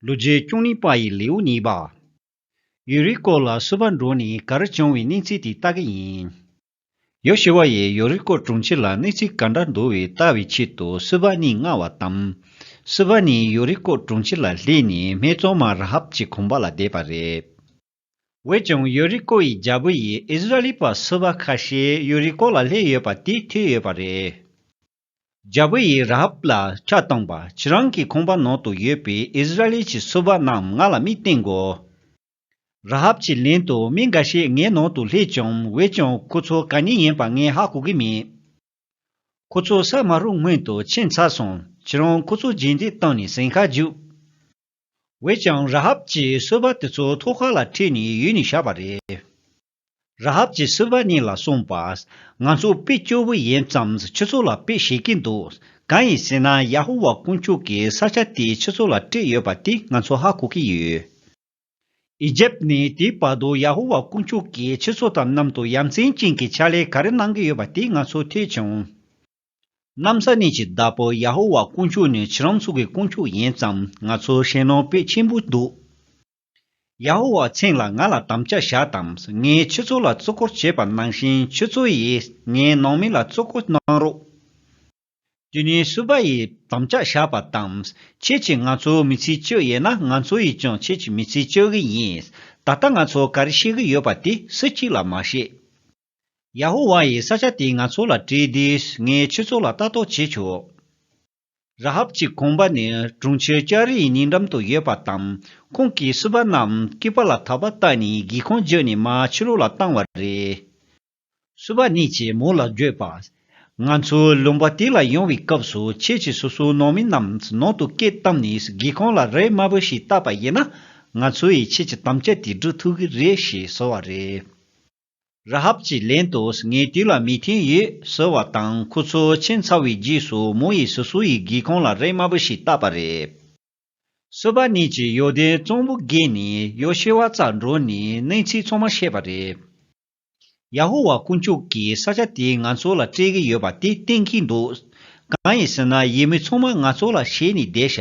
ལུ་རྗེའི་སྐྱོང་ནི་དཔའ་ཡི་ལེའུ་གཉིས་པ། ཡུལ་རིའི་སྐོར་ལ་སུ་བར་འགྲོ་ནི་གར་བྱུང་བའི་གནས་ཚིག་དེ་ལྟ་གི་ཡིན། ཡོ་ཤི་བ་ཡིས་ཡོ་རི་ཀོ་གྲོང་ཁྱེར་ལ་གནས་ཚིག་ག་འདྲ་འདུ་བའི་ལྟ་བའི་ཆེད་དུ་སུ་བ་གཉིས་མངགས་བ་དང། སུ་བ་ནི་ཡོ་རི་ཀོ་གྲོང་ཁྱེར་ལ་སླེབས་ནས་སྨད་བཙོང་མ་ར་ཧབ་ཀྱི་གོམ་པ་ལ་བསྡད་པ་རེད། འོན་ཀྱང་ཡོ་རི་ཀོ་ཡི་རྒྱལ་པོ་ཡིས་ཨིས་ར་ལི་པ་སུ་བ་ཁ་ཤས་ཡོ་རི་ཀོ་ལ་སླེབས་ཡོད་པ་དེ་ཐོས་ཡོད་པ་རེད། རྒྱལ་པོ་ཡིས་ར་ཧབ་ལ་ཆ་བཏང་པ་ཁྱེད་རང་གི་ཁང་པ་ནང་དུ་ཡོད་པའི་ཨིསི་རཱཨེལ་གྱི་སོ་བ་རྣམས་ང་ལ་མི་བསྟན་གོ། ར་ཧབ་ཀྱི་ལན་དུ་མི་འགའ་ཤས་ངའི་ནང་དུ་སླེབས་ཀྱང་འོད་ཀྱང་ཁོ་ཚོ་ག་ཉིད་ཡིན་པ་ངས་ཧ་གོ་གི་མེད། ཁོ་ཚོ་ས་མ་རུ་སྔོན་དུ་ཕྱིན་ཚར་སོང་ཁྱེད་རང་ཁོ་ཚོ་རྗེས་འདེད་བཏང་ནས་ཟིང་ཁ་རྒྱུགས། འོད་ཀྱང་ར་ཧབ་ཀྱི་སོ་བ་དེ་ཚོ་ཐོག་ཁ་ལ་ཁྲིད་ནས་ཡུལ་ནས་བཤགས་པ་རེད། ར་ཧབ་ཀྱིས་སྲིད་པ་གཉིས་ལ་གསུངས་པ། ང་ཚོ་དཔེ་སྐྱོ་བོ་ཡིན་ཙམ་ཁྱེད་ཚོ་ལ་དཔེ་བྱེད་ཀྱི་འདུག་གང་ཡིན་ཟེར་ན་ཡ་ཧོ་ཝཱ་དཀོན་མཆོག་གིས་ས་ཆ་དེ་ཁྱེད་ཚོ་ལ་སྤྲད་ཡོད་པ་དེ་ང་ཚོ་ཧ་གོ་གི་ཡོད། ཨི་ཇེབ་ནས་དེའི་བར་དུ་ཡ་ཧོ་ཝཱ་དཀོན་མཆོག་གིས་ཁྱེད་ཚོ་དང་གནམ་དུ་ཡ་མཚན་ཅན་གྱི་ཕྱག་ལས་ག་རེ་གནང་གི་ཡོད་པ་དེ་ང་ཚོས་ཐོས་བྱུང། གནམ་ས་གནས་ཀྱི་བདག་པོ་ཡ་ཧོ་ཝཱ་དཀོན་མཆོག་ནི་ཁྱེད་རང་ཚོ་གི་དཀོན་མཆོག་ཡིན་ཙམ་ང་ཚོར་ཞེད་སྣང་དཔེ་ཆེན་པོ་འདུག། ཡ་ཧོ་ཝཱ་ཚེང་ལ་ང་ལ་དམ་བཅའ་བཞག་དང་ངས་ཁྱོད་ཚོ་ལ་གཙོ་སྐོར་བྱས་པ་ནང་བཞིན་ཁྱོད་ཚོ་ཡིས་ངའི་ནང་མི་ལ་གཙོ་སྐོར་གནང་རོགས། དེ་ནས་སུ་བ་ཡིས་དམ་བཅའ་བཞག་པ་དང་ཁྱེད་ཀྱིས་ང་ཚོ་མི་ཚིག་གཅོད་ཡས་ན་ང་ཚོ་ཡིས་ཀྱང་ཁྱེད་ཀྱི་མི་ཚིག་གཅོད་གི་ཡིན། ད་ལྟ་ང་ཚོ་ག་རེ་བཤད་གི་ཡོད་པ་དེ་སུ་གཅིག་ལ་མ་བཤད། ཡ་ཧོ་ཝཱ་ཡིས་ས་ཆ་དེ་ང་ཚོ་ལ་སྤྲད་དུས་ངས་ཁྱོད་ཚོ་ལ་ལྟ་རྟོག་བྱེད་ཆོག། ར་ཧབ་ཀྱི་དགོན་པ་ནི་གྲོང་ཁྱེར་ཀྱཱ་རེའི་ཉེ་འགྲམ་དུ་ཡོད་པ་དང་ཁོང་གིས་བསུ་བ་རྣམས་སྐེད་པ་ལ་དག་པ་བཏགས་ནས་སྒེའུ་ཁུང་བརྗོད་ནས་མ་ཕྱི་རོལ་ལ་བཏང་བ་རེད། བསུ་བ་གནས་ཀྱི་མོ་ལ་བརྗོད་པ། ང་ཚོ་ལུང་པ་དེ་ལ་ཡོང་བའི་སྐབས་སུ་ཁྱེད་ཀྱིས་སོ་སོའི་ནང་མི་རྣམས་ནང་དུ་སྐད་བཏང་ནས་སྒེའུ་ཁུང་ལ་རས་དམར་པོ་ཞིག་བཏགས་པ་ཡིན་ན་ང་ཚོ་ཡིས་ཁྱེད་ཀྱི་དམ་བཅའ་དེ་སྒྲུབ་ཐུབ་ཀྱི་རེད་ཞེས་ཟེར་བ་རེད། ར་ཧབ་ཀྱིས་ལན་དུ་ངའི་དུས་ལ་མི་མཐུན་ཡོད་ཟེར་བ་དང་ཁོ་ཚོ་ཕྱིན་ཚར་བའི་རྗེས་སུ་མོ་ཡིས་སོ་སོའི་སྒེའུ་ཁུང་ལ་རས་དམར་པོ་ཞིག་བཏགས་པ་རེད། བསོད་པ་ནས་ཀྱིས་ཡོ་ལྡན་གཙང་པོ་བརྒལ་ནས་ཡོ་ཤེ་ཝཱ་རྩར་འགྲོ་ནས་གནས་ཚུལ་ཚང་མ་བཤད་པ་རེད། ཡ་ཧོ་ཝཱ་དཀོན་མཆོག་གིས་ས་ཆ་དེ་ང་ཚོ་ལ་སྤྲད་ཀྱི་ཡོད་པ་དེ་བསྟན་གྱི་འདུག་གང་ཡིན་ཟེར་ན་ཡིད་མི་ཚང་མ་ང་ཚོ་ལ་བྱས་ནས་བསྡད་བཞག